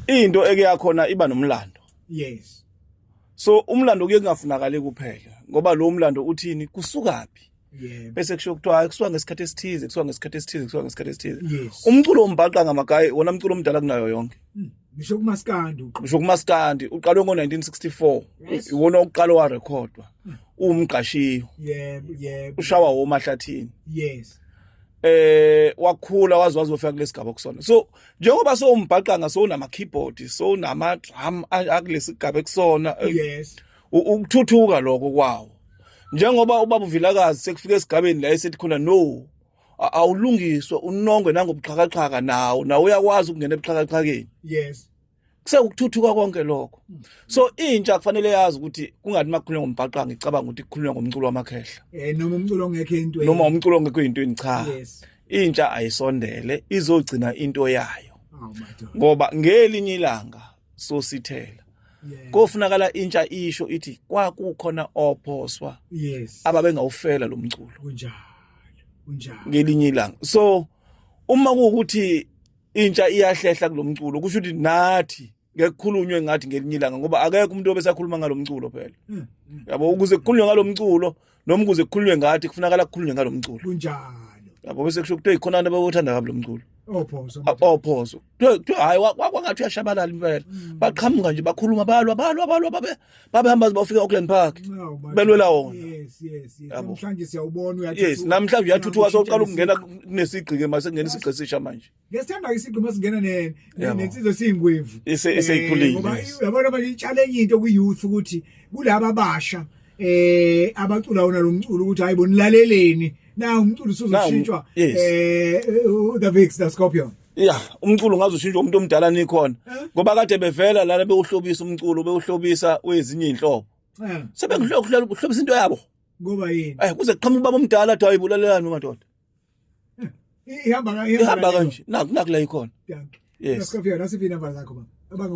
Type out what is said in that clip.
into eke yakhona iba nomlando yes so umlando kuye kungafunakali kuphela ngoba lo mlando uthini kusukaphi Yeah. bese kusho kuthiwa kusuka ngesikhathi esithize kusuka ngesikhathi esithize kusuka ngesikhathi esithize yes. umculo ombhaqa ngamagayi wona mculo omdala kunayo yonke hmm. ngisho mm. kumaskandi ngisho kumaskandi uqalwe ngo-1964 yes. iwona okuqala warekhodwa mm. uwumgqashiyo yeah, yeah. ushawa womahlathini yes eh wakhula waze wazofika kulesigaba kusona so njengoba sowumbhaqanga sowunama keyboard sowunama drum akulesi gaba ekusona eh, yes ukuthuthuka lokho kwawo njengoba ubaba uvilakazi sekufika esigabeni la esethi khona no awulungiswe unongwe nangobuxhakaxhaka nawo nawo uyakwazi ukungena ebuxhakaxhakeni yes kusewukuthuthuka konke lokho mm. so intsha kufanele yazi ukuthi kungathi makukhulunywa ngombhaqanga icabanga ukuthi kukhulunywa ngomculo wamakhehla eh noma umculo ongekho into noma umculo ongekho into cha intsha ayisondele izogcina into yayo oh, ngoba ngelinye ilanga sosithela kofunakala intsha isho ithi kwakukhona ophoswa ababengawufela lo mculo kunjalo kunjalo ngelinye ilanga so uma kuwukuthi intsha iyahlehla kulomculo kusho ukuthi nathi ngekukhulunywe ngathi ngelinye ilanga ngoba akekho umuntu obesakhuluma ngalomculo phela hmm, hmm. yabo ukuze kukhulunywe ngalomculo noma ukuze kukhulunywe ngathi kufunakala kukhulunywe ngalomculo kunjalo yabo bese kusho ukuthi ikhona abantu abawuthanda kabi lomculo ophoso oh, ah, ophoso oh, kuthiwa hayi wakwangathi uyashabalala impela mm. baqhamuka nje bakhuluma balwa balwa balwa babe babehamba bafika Auckland Park belwela wona yes yes yes namhlanje siyawubona uyathi yes namhlanje uyathuthuka soqala ukungena kunesigqi ke mase kungena isigqi sisha manje ngesithanda isigqi mase kungena ne nensizwe singwevu eseyikhulile ngoba yabona manje itshale enye into ku youth ukuthi kulabo abasha eh abacula wona lo mculo ukuthi hayibo nilaleleni na umculo usuzoshintshwa eh the Vix the Scorpion ya umculo ngaze ushintshe umuntu omdala nikhona eh? ngoba kade bevela lana bewuhlobisa umculo bewuhlobisa wezinye inhlobo eh. sebengihlokuhlela ukuhlobisa into yabo ngoba yini eh kuze qhamuka baba omdala athi ayibulalelani madoda eh, ihamba ihamba kanje naku naku la ikhona yes sikufika nasiphi inamba zakho baba